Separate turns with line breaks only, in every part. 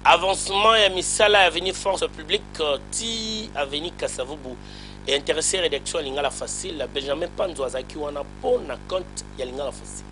Avancement ya misala ya avenue Force publique ti avenue Kasa-Vubu e interesser redaction ya Lingala Facile. Benjamin Panzu azalaki wana po na compte ya Lingala Facile.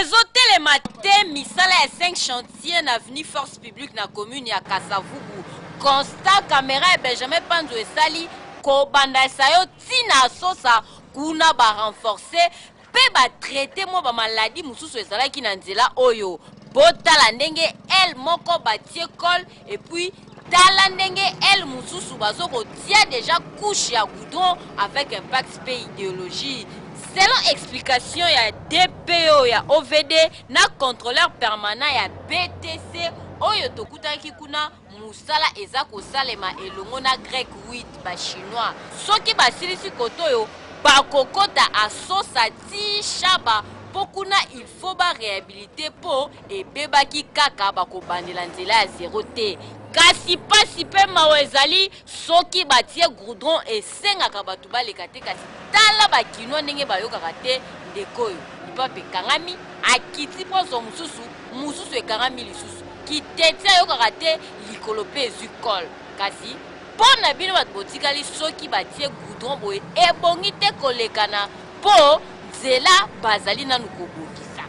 Ezo
telema te misala ya cinq chantiers na avenue Force publique na commune ya Kasa-Vubu. Constat camera ya Benjamin Panzu esali kobanda Esayo ti na Asosa kuna ba renforcer mpe batraite mwa bamaladi mosusu ezalaki na nzela oyo botala ndenge ele moko batie cole epuis tala ndenge ele mosusu bazo kotia deja couche ya goudron avec impact mpe ideologie selon explication ya dpo ya ovd na controleur permanent ya btc oyo tokutaki kuna Mosala eza kosalema elongo na Grec 8 ba chinois soki basilisi kote oyo bakokota Assossa ti Shaba po kuna il faut ba rehabiliter po ebebaki kaka bakobandela nzela ya zero te kasi pasi pe mawa ezali Soki batie goudron esengaka batu baleka te kasi tala ba kinois ndenge bayokaka te ndeko oyo lipapa ekangami akiti po azua mususu mususu ekangami lisusu kiteti ayokaka te likolo pe ezui colle kasi po na bino batu botikali soki batie goudron boye ebongi te kolekana po nzela bazali nanu kobongisa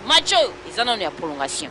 match oyo eza nanu ya prolongation.